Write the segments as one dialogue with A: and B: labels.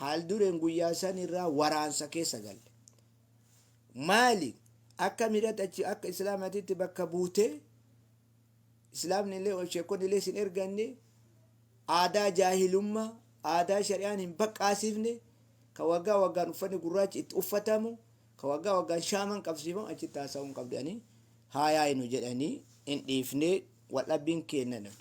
A: Haaldureen guyyaa sanirraa waraansa keessa galle. Maali? Akka miidhatti achi akka Islaamatitti bakka buutee Islaamni illee ol sheekonni illee sin erganne aadaa jaahilummaa aadaa shari'aan hin baqqaasifne ka waggaa waggaan uffanni gurraachi itti uffatamu ka waggaa waggaan shaaman qabsiifamu achitti haasa'uu hin qabdu jedhanii haayaa'inu jedhanii hin dhiifne Waldhabbiin keenna nan.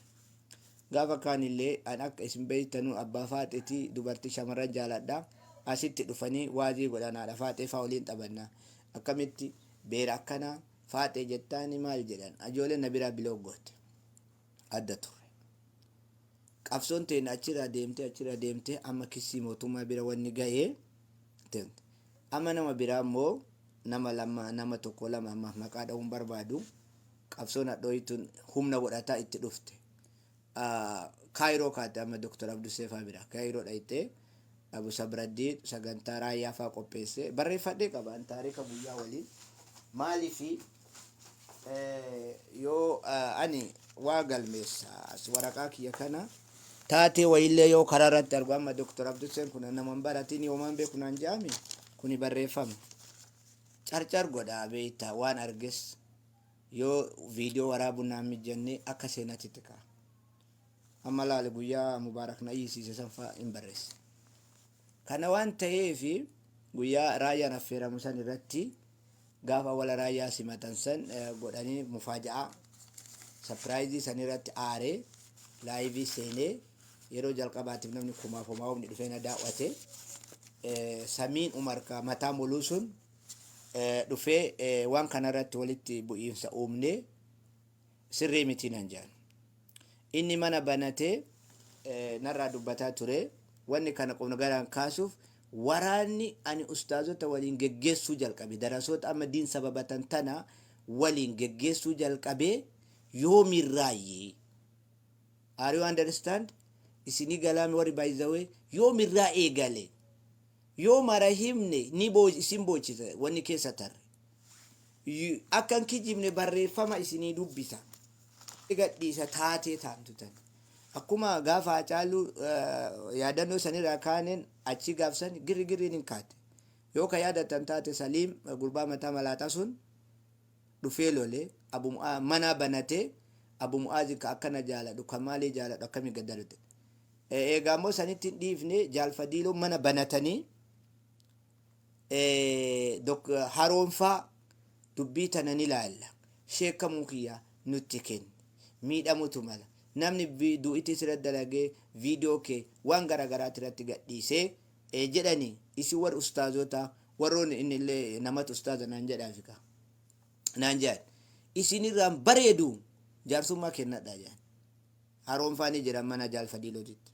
A: Gaafa kaanillee an akka isin beeytanu abbaa faaxeeti dubartii shamarran jaaladha. Asitti dhufanii waazii godhan haadha faaxee faa waliin taphanna. Akkamitti beera akkana faaxee jettaani maal jedhan ajooleen na biraa bilook goote. Adda turre. Qabsoon teenna achirraa deemtee achirraa deemtee amma kissii mootummaa bira wanni gahe. Amma nama biraa immoo nama lama nama tokko lama ammaaf maqaa dha'uu hin barbaadu. Qabsoon hadhooyii tun humna godhataa itti dhufte. Kaayiroo kaate amma Dr. Abdussee faa biraa. Kaayiroo dhayxee Abu Sabraddiin sagantaa raayyaa faa qopheesse. Barreeffadhee qaba an taarika guyyaa waliin. Maaliif yoo ani waa galmeessa as waraqaa kiyya kana taatee wayiillee yoo karaa irratti argu amma Dr. Abdusseen kun nama hin baratiin yoomaan beeku naan jedhame kuni barreeffama. Carcar godhaa beektaa waan arges yoo viidiyoo waraabuun naan mijanne akka seenatti itti ka'a. Amma laali guyyaa mubaarak na iyyisiise san fa'a hin barreesse. Kana waan ta'eef guyyaa raayyaan affeeramu san irratti Gaafa wala raayyaa simatan san godhanii mufaaja'aa sapiraayizii sanirratti aaree laayivii seenee yeroo jalqabaatiif namni kumaaf homaa humni dhufee na daawwate samiin umarka mataa muluu sun dhufee waan kanarratti walitti bu'iinsa uumnee sirrii miti nan jedhan. Inni mana banatee eh, narraa dubbataa ture. Wanni kana qubna garaan kaasuuf waraanni ani ustaazota waliin geggeessuu jalqabe. Darasoota amma diin sababatan tana waliin geggeessuu jalqabe yoomirraayyii. Are you understand? Isinii galaami warri by the way yoomirraa eegale. Yoo mara himne ni boo isin boochisa wanni keessa tarre. Akka hin kijibne barreeffama isinii dubbisa. Ni gadhiisa taatee taantu tan. Akkuma gaafa Haacaaluu yaadannoo sanirraa kaaneen achii gaafsan girri girriin hin kaate. Yoo ka yaadatan taate Saliim gurbaa mataa malaaxaa sun dhufee lole Abu Mu'aa manaa banatee Abu Mu'aazin ka akkana jaaladhu ka maalii jaaladhu akkami gaddarate. Eegaa immoo sanitti hin dhiifne Jaal Fadiiloon mana banatanii Dok haroon faa dubbii tana ni laalla sheekkamuu kiyya nutti kenni miidhamutu mala namni du'iti sirratti dalagee video kee waan gara garaati irratti gadhiisee jedhani isin warri ustaazota warroon inni illee namatu ustaaza naan jedhaafi ka naan jedhan isin irraan bareedu jaarsummaa kennadha jedhan haroon faa ni jira mana jaal fadiilootitti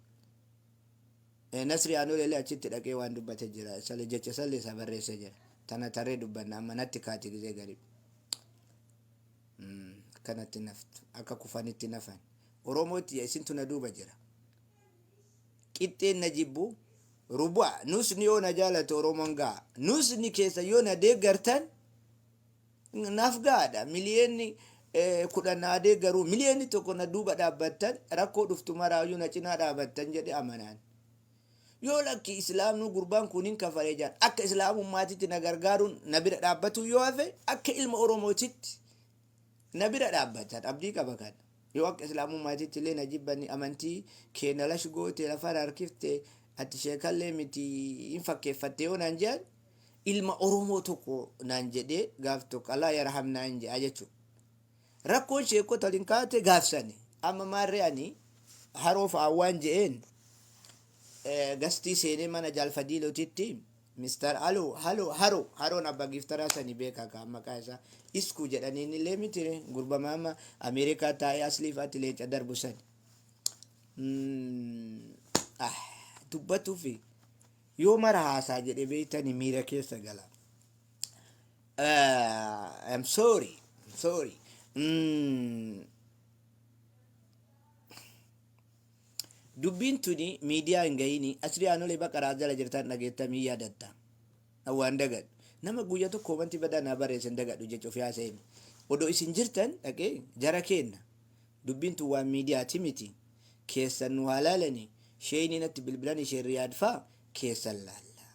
A: Nasri Anuleele achitti dhaqee waan dubbate jira isale jecha salle isaa barreesse jira tana tarree dubbanna amma natti kaati gizee garii akkanatti naftu akka kufanitti nafan oromootti ya isintu na duuba jira qixxeen na jibbu rubu'a nusni yoo na jaalate oromoon ga'a nusni keessa yoo na deeggartan Naaf gahaadha. Miliyeenni kudhan naa deeggaru, miliyeenni tokko na duuba dhaabbattan, rakkoo dhuftu maraayyuu na cinaa dhaabattan jedhe amanaan. Yoo lakki Islaamnuu gurbaan kun hin kafare jedhan, akka Islaamummaatitti na gargaaruun na bira dhaabbatuun yoo hafe, akka ilma Oromootitti na bira dhaabbatan abdii qaba kana. Yoo akka islaamummaatitti illee na jibbani amantii kee na lash goote lafa na harkifte ati sheeka illee miti hin fakkeeffatte yoo naan je'an ilma oromoo tokko naan jedhee gaaf tokko Allah yarham naan je'a jechu rakkoon sheekota waliin kaate gaaf sani amma maarree ani haroo fa'aan waan je'een gastii seenee mana jaal fadiilotitti Mister Halo Halo Haro Haroon Abba Giftaraa sani beekaa kaa maqaa isaa Isku jedhaniin illee miti ree gurbama amma Ameerikaa taa'ee asliif ati leenca darbu sani Mm, ah, dubbatuufi yoo mara haasaa jedhe beektani miira keessa gala Ah, I'm sorry I'm sorry Mm, Dubbiin tuni miidiyaa hin gayini Asri Anole Baqara jala jirtaan dhageetta mii yaadatta? An waan dagadhu. Nama guyya tokko komanti badaa naa bareesse hin dagadhu jecha ofii haasa'e mi. Odo isin jirtan dhaqee jara keenna. Dubbiin tun waan miidiyaati miti. Keessan nu haa laalani. Sheeyni natti bilbilani Shee Riyaad faa keessan laalla.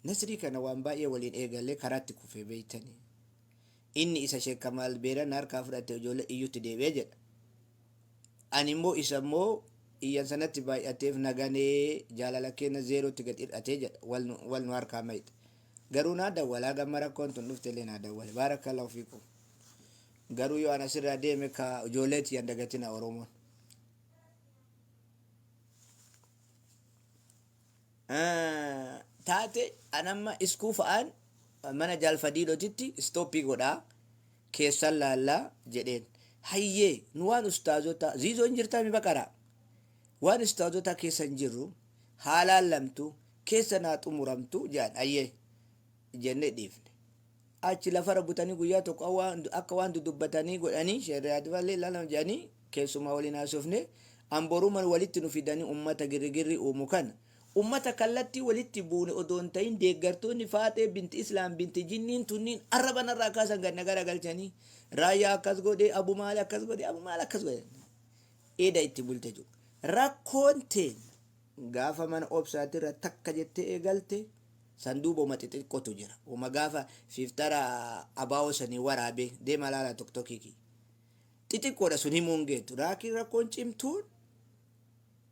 A: Nasrii kana waan baay'ee waliin eegalle karaatti kufee beeytani. Inni isa Sheek Kamaal Beerana harkaa fudhatte ijoollee iyyutti deebi'e jedha. Ani immoo isa immoo iyyansa natti baay'ateef na ganee jaalala keenna zeerootti gad hir'ate jedha wal nu wal nu harkaa mayxe garuu naa dawwala hagamma rakkoon tun dhufte illee naa dawwale baarakkallaahu fiikum garuu yoo an asirraa deeme ka ijoollee tiyyan dagatina oromoon taate an amma iskuu fa'aan mana jaal fadiilotitti istooppii godhaa keessan laallaa jedheen hayyee nu waan ustaazotaa ziizoon jirtaa mi baqaraa waan ustaazotaa keessan jirru haa laallamtu keessan haa xumuramtu jedhan hayyee jennee dhiifne Achi lafarra butanii guyyaa tokko akka waan dudubbatanii godhanii Sheikh Riyaad faa illee ilaalama jedhanii keessummaa waliin haasofne an boruman walitti nu fidanii ummata girrigirri uumu kana ummata kallattii walitti buune odoo hin tahin deeggartoonni Faaxee bint Islaam bint Jinniin tunniin arraba narraa kaasan gad na garagalchanii Raayyaa akkas godhe Abu Maal akkas godhe Abu Maal akkas godhe eda itti bulte jiru rakkoon teenna Gaafa mana obsaati irra takka jettee eegalte san duuba woma xixiqqotu jira woma gaafa fiftara abawo sani waraabe deema laala toktoki kiyya xixiqqoodha sun himuu hin geettu raakiin rakkoon cimtuun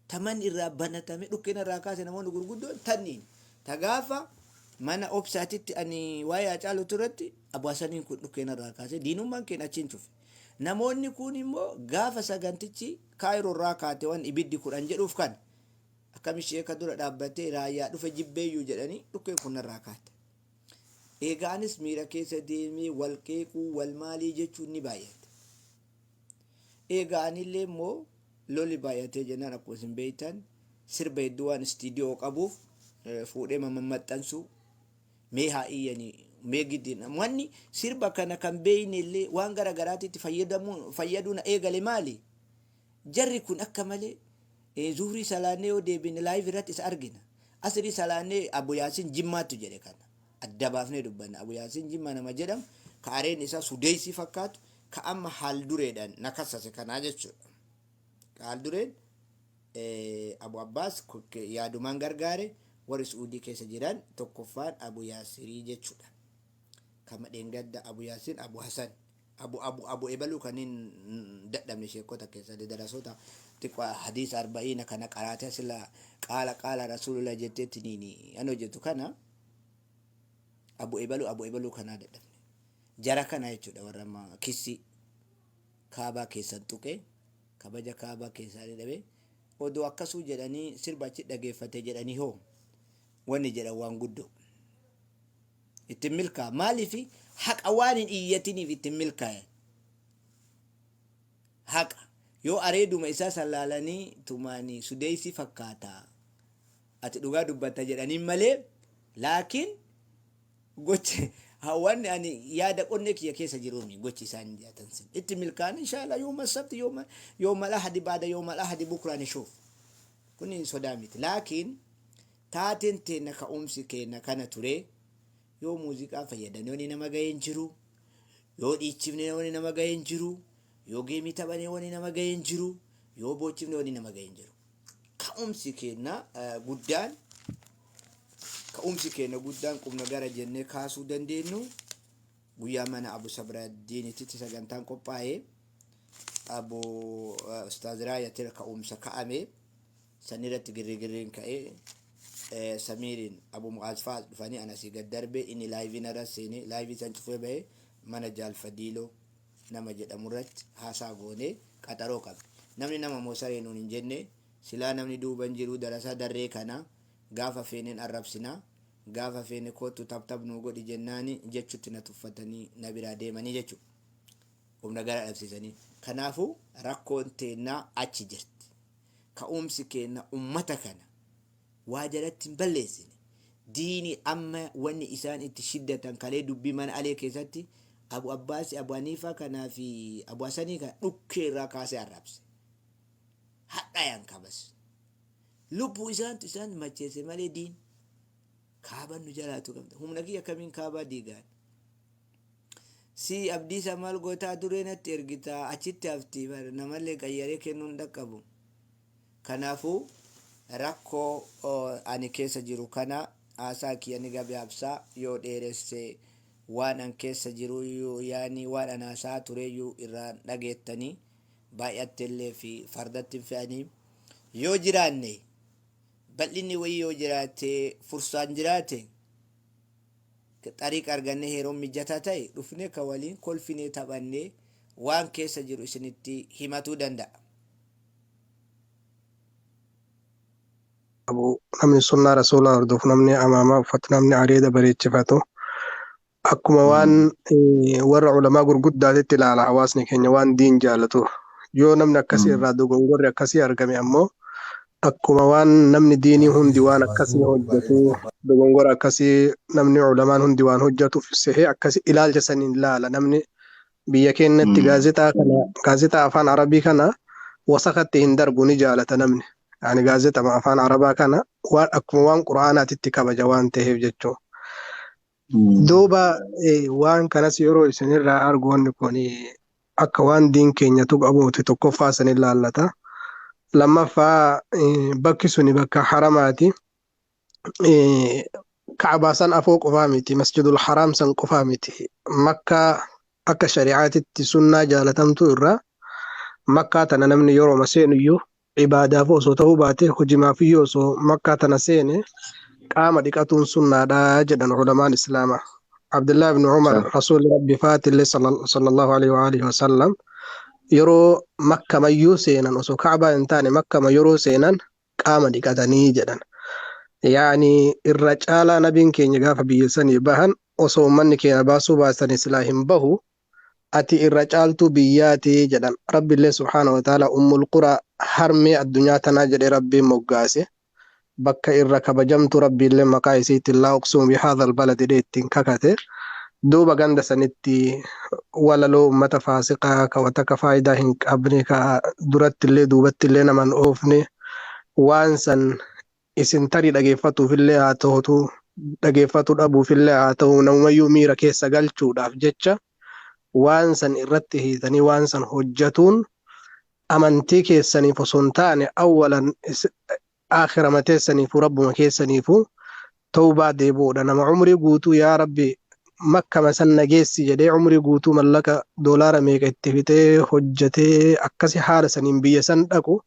A: ta manni irraa banatame dhukkeen irraa kaase namoonni gurguddoon tanniin ta gaafa mana obsaatitti ani waa'ee acaalutu irratti abuhasaniin kun dhukkeen irraa kaase diinummaan keen achiin cufe namoonni kun immoo gaafa sagantichi Cairo irraa kaate wan ibiddi kudhan jedhuuf kana akkami sheeka dura dhaabbatee raayyaa dhufe jibbeeyyuu jedhanii dhukkeen kun narraa kaate. Eegaa anis miira keessa deemee wal qeequu wal maalii jechuun ni baay'ate. Eegaa anillee immoo loli baay'atee jennaan akkuma isin beektan sirba hedduu waan istiidiyoo qabuuf fuudhee mammaxxansuu Mee haa iyyani mee giddi namni sirba kana kan beeyne illee waan gara garaatitti fayyadamuu fayyaduna eegale maali jarri kun akka malee eh, zuhrii salaannee yoo deebine live irratti isa argina asrii salaannee abu yaasin jimmaattu jedhe kana adda baafnee dubbanna abu yaasin jimmaa nama jedhamu ka areen isaa sudeeysii fakkaatu ka amma haal dureedhaan na kassase kanaa jechuudha Qaaldureen Abu Abbaas yaadumaan gargaare warri Su'uudii keessa jiran tokkoffaan Abu Yaasirii jechuudha. Kama dheengadda Abu Yaasir, Abu Hasan, Abu Abu Abu Ebaluu kanneen dadhabne sheekota keessa darasoota xiqqoo hadiisa arba'iina kana qaraatee sila qaala qaala rasuulullah jetteetti niini an hojjetu kana Abu Ebaluu Abu Ebaluu kanaa dadhabne. Jara kana jechuudha warra amma kissii. kaabaa keessan tuqe kabaja kaabaa keessaanii dhabe odoo akkasuu jedhanii sirba achi dhageeffate jedhanii hoo wanni jedhan waan guddoo ittiin milkaa maaliif haqa waan hin iyyatiniif ittiin milkaa'e haqa yoo areeduma isaa san laalanii tumaanii sudeessi fakkaata ati dhugaa dubbatta jedhaniin malee laakiin Gochi wanni ani yaada qonnee kiyya keessa jiruumi gochi isaan jaatan sun itti milkaan inshaala yooma sabti yooma yooma lahadi baada yooma lahadi bukraa nishuuf kun hin sodaa miti laakiin taateen teenna ka'umsi keenna kana ture yoo muuziqaa fayyadamne wani nama ga'e hin jiru yoo dhiichifne wani nama ga'e hin jiru yoo geemii taphane wani nama ga'e hin jiru yoo boochifne wani nama ga'e hin jiru Ka'umsi keenya guddaan ka'umsi keenya guddaan qubna gara jennee kaasuu dandeenyu guyyaa mana Abu Sabraaddiinititti sagantaan qophaa'ee Abu Ustaaz Raayatir ka'umsa ka'ame sanirratti girrigirriin ka'ee Samiiriin Abu Mu'aaz fa'aas dhufanii anasii gad darbee inni laayivii narra seenee laayivii san cufee bahee mana Jaal Fadiiloo nama jedhamu irratti haasaa goone qaxaroo qabne. Namni nama moo saree nuun hin jenne, silaa namni duuba hin jiru darasaa darree kana gaafa feeneen arrabsina, gaafa feene koottu taptap nuu godhi jennaani jechutti na tuffatanii na biraa deemanii jechu. Of na garaa dhabsiisanii. Kanaafuu rakkoon teennaa achi jirti. Ka'uumsi keenna ummata kana. waa jalatti hin balleessine diini amma wanni isaan itti shiddatan kalee dubbii mana alee keessatti abu abbaasi abu haniifaa kanaa fi abu hasanii kana dhukkee irraa kaasee arrabse hadhayan kabas lubbuu isaantu isaan macheesse malee diin kaaban nu jalaatu qabda humna kiyya akkamiin kaabaa diigaan si abdiisa maal gootaa duree natti ergitaa achitti hafti bar namallee qayyaree kennuun dhaqqabu Kanaafuu, rakkoo ani keessa jiru kana haasaa kiyya ni gabaabsa, yoo dheeresse waan an keessa jiruyyuu yaani waan an haasa'aa tureyyuu irraa hin dhageettani, baay'attellee fi fardatti hin fe'ani. Yoo jiraanne, bal'inni wayii yoo jiraate, fursaan jiraate, xariiqa argannee yeroon mijataa ta'e dhufnee ka waliin kolfinee taphannee waan keessa jiru isinitti himatuu danda'a.
B: qabu namni sunnaa rasuulaa hordofu namni amaamaa uffatu namni areeda bareechifatu akkuma waan eh, warra ulamaa gurguddaatitti ilaala hawaasni keenya waan diin jaalatu yoo namni akkasii Mm. irraa dogongorri akkasii argame ammoo akkuma waan namni diinii hundi waan akkasii hojjetu dogongora akkasii namni ulamaan hundi waan hojjetuuf sehee akkasii ilaalcha saniin ilaala namni Biyya keenyatti Mm. gaazexaa kana gaazexaa afaan Arabii kana wasakatti hin darbu ni jaalata namni. Ani gaazexama afaan Arabaa kana waan akkuma waan Qur'aanaatitti kabaja waan ta'eef jechuudha. Mm. Duuba eh, waan kanas yeroo isinirraa argu wanni kun eh, akka waan diin keenya tuqamuuti tokkoffaa isin ilaallata. Lammaffaa eh, bakki suni bakka haramaati. ka'abaa san afoo qofaa miti masjidul haraam san qofaa miti makkaa akka shari'aatitti sunnaa jaalatamtuu irraa makkaa tana namni yeroo seenuyyuu ibaadaaf osoo ta'uu baate hojimaafiyyuu osoo makkaa tana seene qaama dhiqatuun sunnaadha jedhan ulamaan islaamaa. Abdullah ibn Umar Sure. Rasuulli Rabbi Faatillee sallal- sallallahu alaihi wa alihi wa sallam yeroo makkamayyuu seenan osoo kaabaa hin taane makkama yeroo seenan qaama dhiqatanii jedhan. Yaani irra caalaa nabiin keenya gaafa biyya sanii bahan osoo ummanni keenya baasuu baatanii silaa hin bahu ati irra caaltuu biyyaati jedhan. Rabbillee subhaana wa ta'aala ummul quraa harmee addunyaa tanaa jedhee rabbiin moggaase. Bakka irra kabajamtuu rabbiillee maqaa isiitiin laa uqsimu bihaadhal balad jedhee ittiin kakate. Duuba ganda sanitti walaloo ummata faasiqaa ka wa takka faayidaa hin qabne ka durattillee duubattillee nama hin oofne waan san isin tarii dhageeffatuufillee haa tahutu dhageeffatu dhabuufillee haa tahu namumayyuu miira keessa galchuudhaaf jecha waan san irratti hiitanii waan san hojjatuun amantii keessaniif osoo hin taane awwalan Aakhirama teessaniifuu Rabbuma keessaniifuu tawbaa deebi'uudha. Nama umrii guutuu yaa Rabbi Makkama san na geessi jedhee umrii guutuu mallaqa doolaara meeqa itti fixee hojjetee akkasi haala saniin biyya san dhaqu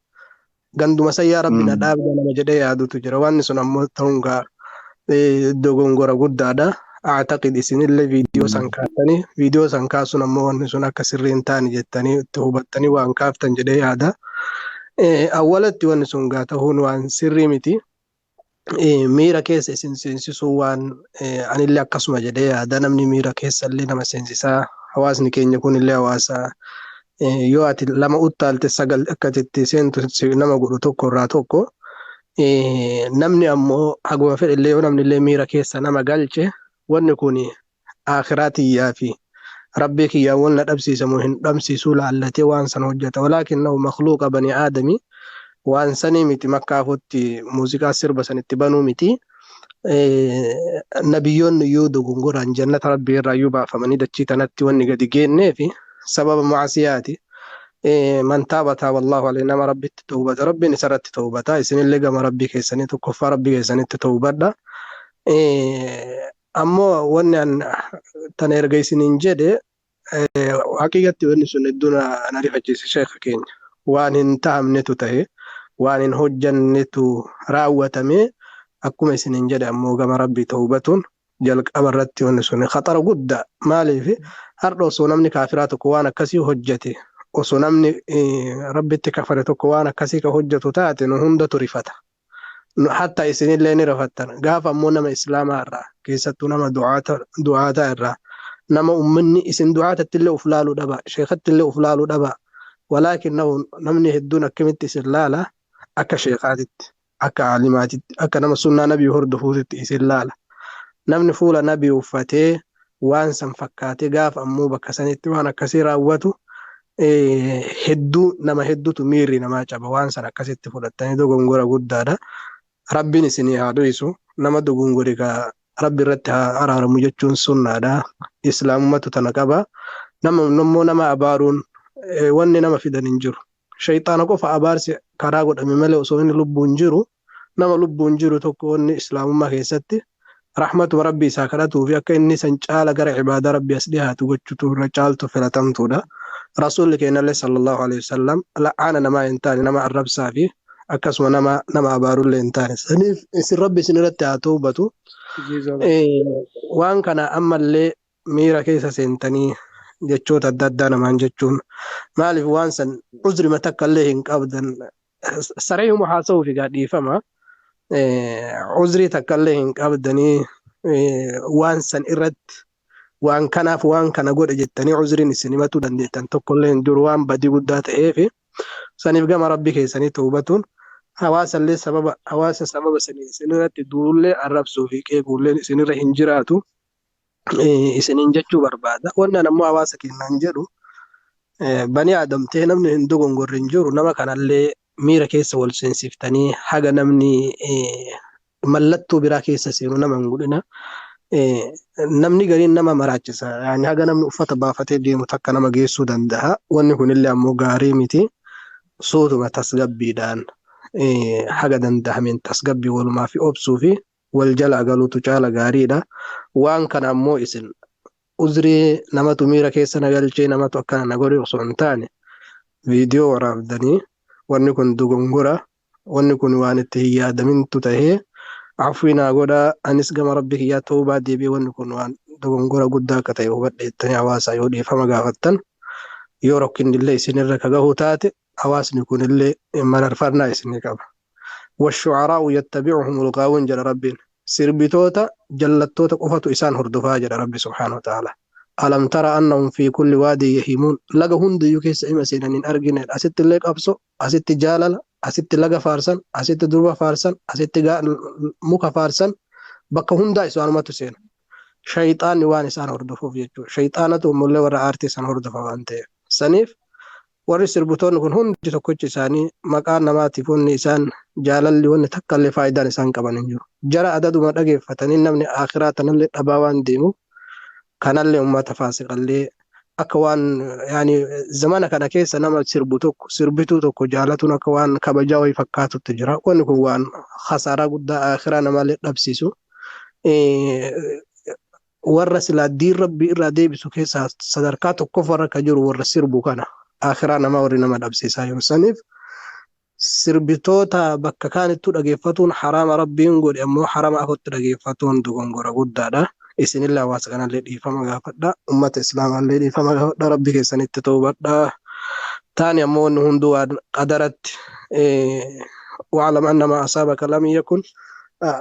B: ganduma san yaa Rabbi na dhaabda nama jedhee yaadutu jira. Waanni sun ammoo ta'uun gaa dogongora guddaadha. Aataqid isinillee viidiyoo san kaatanii viidiyoo san kaasuun ammoo wanni sun akka sirrii hin taane jettanii itti hubattanii waan kaaftan jedhee yaada. Awwalatti wanni sun gaa tahuun waan sirrii miti. Miira keessa isin seensisuu waan anillee akkasuma jedhee yaada namni miira keessallee nama seensisaa hawaasni keenya kunillee hawaasa yoo ati lama uttaalte sagal akka itti seentu nama godhu tokko irraa tokko. namni ammoo haguma fedhellee yoo namni illee miira keessa nama galche wanni kun aakhiraa tiyyaa fi rabbii kiyyaan wal na dhabsiisamu hin dhabsiisuu laallatee waan san hojjeta walaakinnahu makluuqa banii aadami waan sanii miti makkaafutti muuziqaa sirba san itti banuu miti nabiyyoonni iyyuu dogongoraan jannata rabbii irraa iyyuu baafamanii dachii tanatti wanni gadi geenneef sababa maasiyaati man taaba taaba allahu alayhi nama rabbitti tawbata rabbiin isarratti tawbata isinillee gama rabbii keessanii tokkoffaa rabbii keessanitti tawbadha ammoo wanni an tan erga isiniin jedhe Haqiiqatti wanni sun hedduu na na rifachiise sheekha keenya. Waan hin tahamnetu tahe, waan hin hojjannetu raawwatame. Akkuma isiniin jedhe ammoo gama Rabbii tawbatuun jalqaba irratti wanni sun khaxara guddaa. Maaliif hardha osoo namni kaafiraa tokko waan akkasii hojjate, osoo namni eh, Rabbitti kafare tokko waan akkasii ka hojjatu taate nu hundatu rifata. nu hatta isinillee ni rifattan gaafa ammoo nama islaamaa irraa keessattuu nama du'aata du'aataa irraa nama ummanni isin du'aatatti illee uf laaluu dhaba sheekatti illee uf laaluu dhaba walaakinnahu namni hedduun akkamitti isin laala akka sheekaatitti akka aalimaatitti akka nama sunnaa nabii hordofuutitti isin laala namni fuula nabii uffatee waan san fakkaatee gaafa ammoo bakka sanitti waan akkasii raawwatu hedduu nama hedduutu miirri namaa caba waan san akkasitti fudhattanii dogongora guddaadha. Rabbiin isinii haa dhiisu nama dogongore kaa rabbi irratti haa araaramu jechuun sunnaadha. Islaamumatu tana qaba. Nama immoo nama abaaruun wanni nama fidan hin jiru. Sheyxaana qofa abaarsi karaa godhame malee osoo inni lubbuun jiru nama lubbuun jiru tokko wanni Islaamummaa keessatti rahmatuma Rabbii isaa kadhatuu fi akka inni san caala gara ibaadaa Rabbii as dhihaatu gochutu irra caaltu filatamtuudha. Rasuulli keennallee sallallahu aleyhi wasallam la'aana namaa hin taane nama arrabsaa fi akkasuma nama nama abaarullee hin taane. Saniif isin Rabbi isin irratti haa tawbatu. Waan kana ammallee miira keessa seentanii jechoota adda addaa namaan jechuun maaliif waan san uzrima takka illee hin qabdan sareehuma haasa'uuf egaa dhiifama uzrii takka illee hin qabdanii waan san irratti waan kanaaf waan kana godhe jettanii uzriin isin himatuu dandeettan tokko illee hin jiru waan badii guddaa ta'eef saniif gama rabbi keessanii toobatuun hawaasa illee sababa hawaasa sababa sanii isin irratti duullee arrabsuu fi qeequulleen isin irra hin jiraatu. isiniin jechuu barbaada. Wannaan ammoo hawaasa keenyaan jedhu banii aadam ta'ee namni hin dogongorre hin jiru nama kanallee miira keessa wal seensiftanii haga namni mallattoo biraa keessa seenu nama hin godhina. Namni gariin nama maraachisa. Yaani haga namni uffata baafatee deemu takka nama geessuu danda'a. Wanni kunillee ammoo gaarii miti. Suutuma tasgabbiidhaan haga danda'ameen tasgabbii walumaa fi obsuu fi wal jalaa galutu caala gaariidha. Waan kana ammoo isin uzrii namatu miira keessa na galchee namatu akkana na godhe osoo hin taane viidiyoo waraabdanii wanni kun dogongora wanni kun waan itti hin yaadamintu tahee afwii naa godhaa anis gama rabbi kiyyaa tawbaa deebi'ee wanni kun waan dogongora guddaa akka ta'e hubadhe jettanii hawaasaa yoo dhiifama gaafattan yoo rakkinnillee isinirra ka gahu taate hawaasni kunillee mararfannaa is ni qaba. washucaraa'u yattabicuhumul gaawuun jedha rabbiin sirbitoota jallattoota qofatu isaan hordofaa jedha rabbi subhaanahu wa ta'aalaa alam tara annahum fi kulli waadii yahimuun laga hundayyuu keessa ima seenan hin argine asitti illee qabso asitti jaalala asitti laga faarsan asitti durba faarsan asitti gaa- muka faarsan bakka hundaa isaanumatu seena shayxaanni waan isaan hordofuuf jechuudha shayxaanatu ammallee warra aartii san hordofa waan ta'eef saniif Warri sirbitoonni kun hundi tokkochi isaanii maqaa namaatiif wanni isaan jaalalli wanni takkallee faayidaan isaan qaban hin jiru. Jara adaduma dhageeffatanii namni aakhiraa tanallee dhabaa waan deemuuf kanallee ummata faasiqallee akka waan yaani zamana kana keessa nama sirbu tokko sirbituu tokko jaalatuun akka waan kabajaa wayii fakkaatutti jira. Wanni kun waan khasaaraa guddaa aakhiraa namaallee dhabsiisu. warra silaa diin rabbii irraa deebisu keessaa sadarkaa tokkoffaa irra kan jiru warra sirbu kana akhiraa namaa warri nama dhabsiisaa jiru saniif sirbitoota bakka kaanittuu dhageeffatuun haraama rabbiin godhe ammoo harama afotti dhageeffatuun dogongora guddaadha isinillee hawaasa kanallee dhiifama gaafadha ummata islaamaallee dhiifama gaafadha rabbi keessanitti toobadha taani ammoo wanni hunduu waan qadaratti eh, wa'alam annamaa asaabaka lam yakun ah,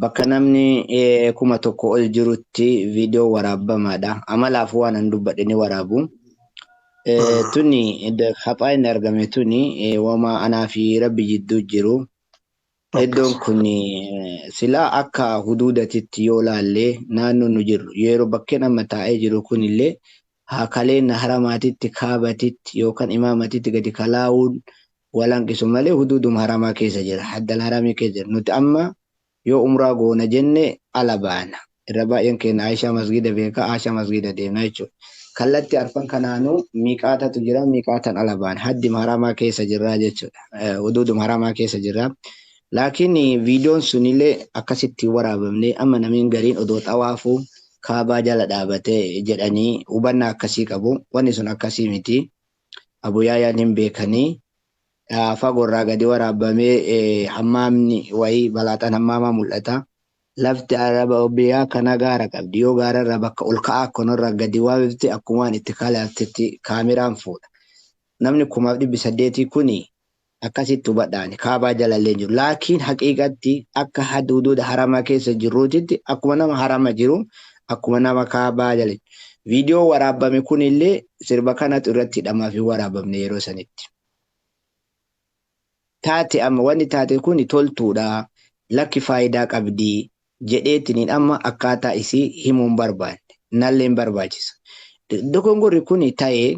A: Bakka namni 1000 ol jirutti viidiyoon waraabbamaadha. Amalaaf waan an dubbadhe ni waraabu. Tuni haphaa inni argame tuni wama anaa fi rabbi jidduu jiru. Iddoon kun silaa akka huduudatitti yoo laallee naannoon nu jirru yeroo bakkeen amma taa'ee jiru kunillee hakaleen haramaatitti kaabatitti yookaan imaamatitti gadi kalaa'uun wal hanqisu malee huduuduma haramaa keessa jira, haddal haramii keessa jira. Nuti amma yoo umraa goona jenne ala baana. Irra baay'een keenya Aishaa masgiida beeka, Aishaa masgiida deemna jechuudha. Kallatti arfan kanaanuu miiqaatatu jira, miiqaatan ala baana. Haddima haramaa keessa jirra jechuudha. Huduuduma haramaa keessa jirra. Laakiin viidiyoon sunillee akkasitti hin waraabamne. Amma namiin gariin odoo xawaafuu kaabaa jala dhaabate jedhanii hubannaa akkasii qabu. Wanni sun akkasii miti. Abu Yaayaan hin beekani. Fagoorraa gadi waraabamee hammaamni wayii balaaxaan hammaamaa mul'ata. Lafti araba biyyaa kana gaara qabdi. Yoo gaararraa bakka ol ka'aa akkanarraa gadi waabifte akkumaan itti kalaaftetti kaameraan fuudha. Namni kumaaf dhibbi saddeetii kuni Akkasitti hubadha ani kaabaa jalallee hin jiru. Laakiin haqiiqatti akka haduuduuda haramaa keessa jirruutitti akkuma nama harama jiru akkuma nama kaabaa jala jiru. Viidiyoo waraabbame kunillee sirba kanatu irratti hidhamaaf hin waraabamne yeroo sanitti. Taate amma wanni taate kuni toltuudha lakki faayidaa qabdi jedheetiniin amma akkaataa isii himuun barbaanne nallee hin barbaachisa. Dogongorri kuni ta'ee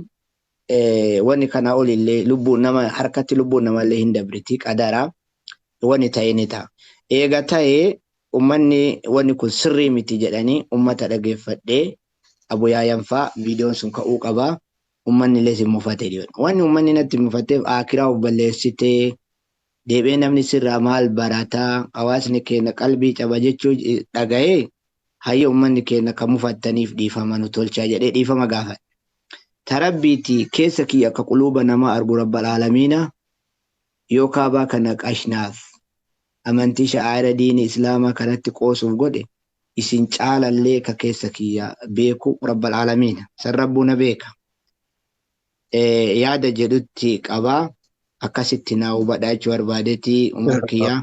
A: wani kana olille lubbu nama harkatti lubbuun namalle hin dabriti qadara wani ta'e ni ta'a eega ta'e ummanni wani kun sirrii miti jedhani ummata dhageeffadhe abuyaayan fa vidiyoon sun ka'uu qaba ummanniles hin mufate dhiyoon wani ummanni natti mufatteef aakiraa of balleessite deebi'ee namni sirraa maal barata hawaasni keenna qalbii caba jechuu dhaga'ee hayya ummanni keenna ka mufattaniif dhiifama nu tolchaa jedhee dhiifama gaafadhe ta rabbiiti keessa kiyya ka quluuba namaa argu rabbal aalamiina yoo kaabaa kana qashnaaf amantii sha'aa'ira diini islaamaa kanatti qoosuuf godhe isin caalallee ka keessa kiyya beeku rabbal aalamiina san rabbuu na beeka yaada jedhutti qabaa akkasitti naa hubadhaa jechuu barbaadetii umar kiyyaa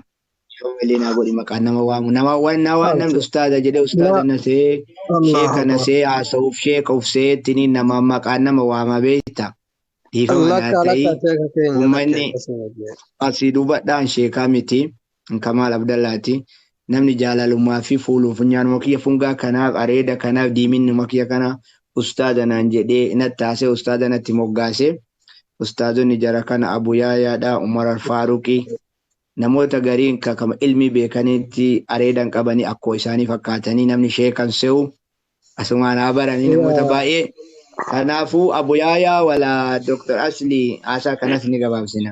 A: Yoo malee naa godhi maqaan nama waamu. Nama waan naa waan namni ustaaza jedhee ustaaza nasee sheeka nasee haasa'uuf sheeka ufsee tini nama maqaan nama waama beekta. Dhiifama naa Lakka ta'ii lakka sheeka keenya lakka ummanni akkasuma jee. asii duubadhaan sheekaa miti kamaal abdallaati namni jaalalummaa fi fuuluun funyaanuma kiyya fungaa kanaaf areeda kanaaf diiminnuma kiyya kana ustaaza naan jedhee nattaasee ustaaza natti moggaase ustaazonni jara kana abu yaayaadha umar alfaaruqi Namoota gariin ka kama ilmii beekaniitti areedan qabanii akkoo isaanii fakkaatanii namni sheekan se'u asumaan haa baranii namoota baay'ee kanaafuu abu yaayaa wala Dr. Aslii haasaa kanas ni gabaabsina.